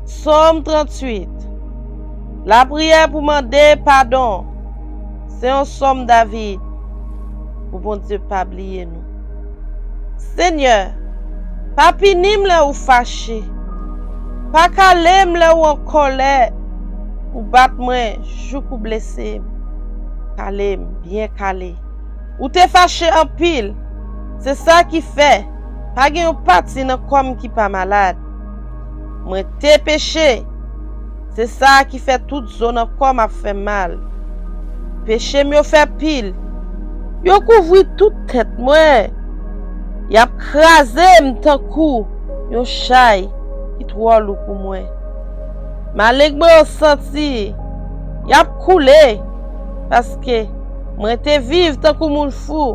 Sòm 38 Lapriyè pou mande padon Se yon sòm David Pou Bondye pa bliye nou Senyè, pa pini m lè ou fache Pa kale m lè ou an kòlè Ou bat mwen jouk ou blese m Kale m byen kale Ou te fache anpil Se sa ki fè Pa gen yon pati nan kò m ki pa malad. Mwen te peche, se sa a ki fè tout zo nan kò m ap fè m mal. Peche m yo fè pil. Yo kouvri tout tèt mwen. Y ap kraze m tankou yon chay ki twò lou pou mwen. Maleng mwen yo santi, y ap koule, paske mwen te viv tankou moun fou.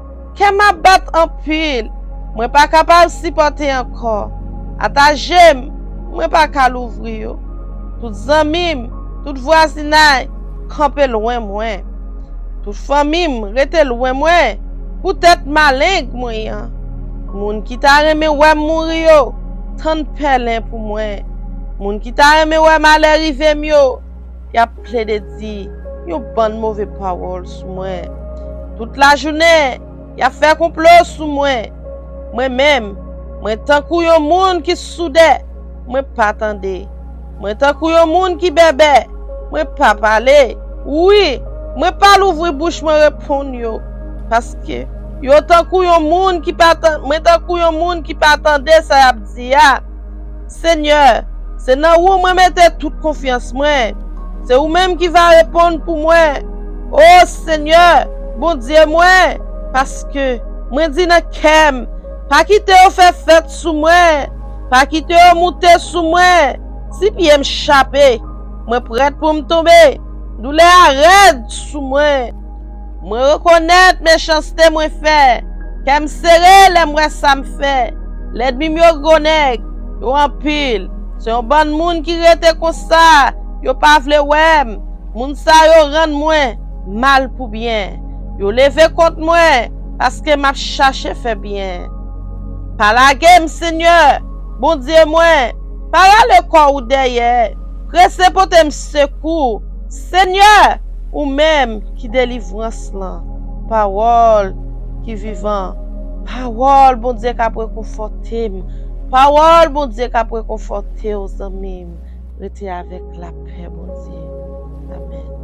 Kèm ap bat anpil mwen pa kapab sipòte ankò ata jem mwen pa ka louvri yo tout zanmim tout vwazinay kanpe lwen mwen tout fanmim rete lwen mwen poutèt maleng mwen an moun ki ta renmen wèm mouri yo tann pèlen pou mwen moun ki ta renmen wè malè rivem yo yap plede di yon bann move pawòl sou mwen. Tout lajounen, yap fè konplo sou mwen. Mwen menm, mwen tankou yon moun ki soudè, mwen pa tande. Mwen tankou yon moun ki bèbè, mwen pa pale. Wi, mwen pa louvri bouch mwen reponn yo, paske yo tankou yon moun ki pa tande sa yap di a. Senyè, se nan ou mwen mete tout konfyans mwen, se ou menm ki va reponn pou mwen, O Senyè, Bondye mwen, paske, mwen di nan kè m, Pa kite yo fè fèt sou mwen, pa kite yo moute sou mwen, si pye m chape, mwen prèt pou m tonbe, doulè a rèd sou mwen. Mwen rekonèt mechanste mwen fè, kè m sere lè m wè sa m fè. Lèdmi m yo gwo nèg, yo anpil, se yon bann moun ki rete konsa, yo pa vle wè m, moun sa yo rann mwen mal pou byen. Yo leve kont mwen paske m ap chache fè byen. Pa lage m, Senyè, Bondye mwen, pa rale kò ou dèyè, prese pote m sekou. Senyè, ou menm ki delivrans lan, pawòl ki vivan, pawòl Bondye k'ap rekonfòte m, pawòl Bondye k'ap rekonfòte w zanmi m, rete avèk lapè Bondye. Amèn.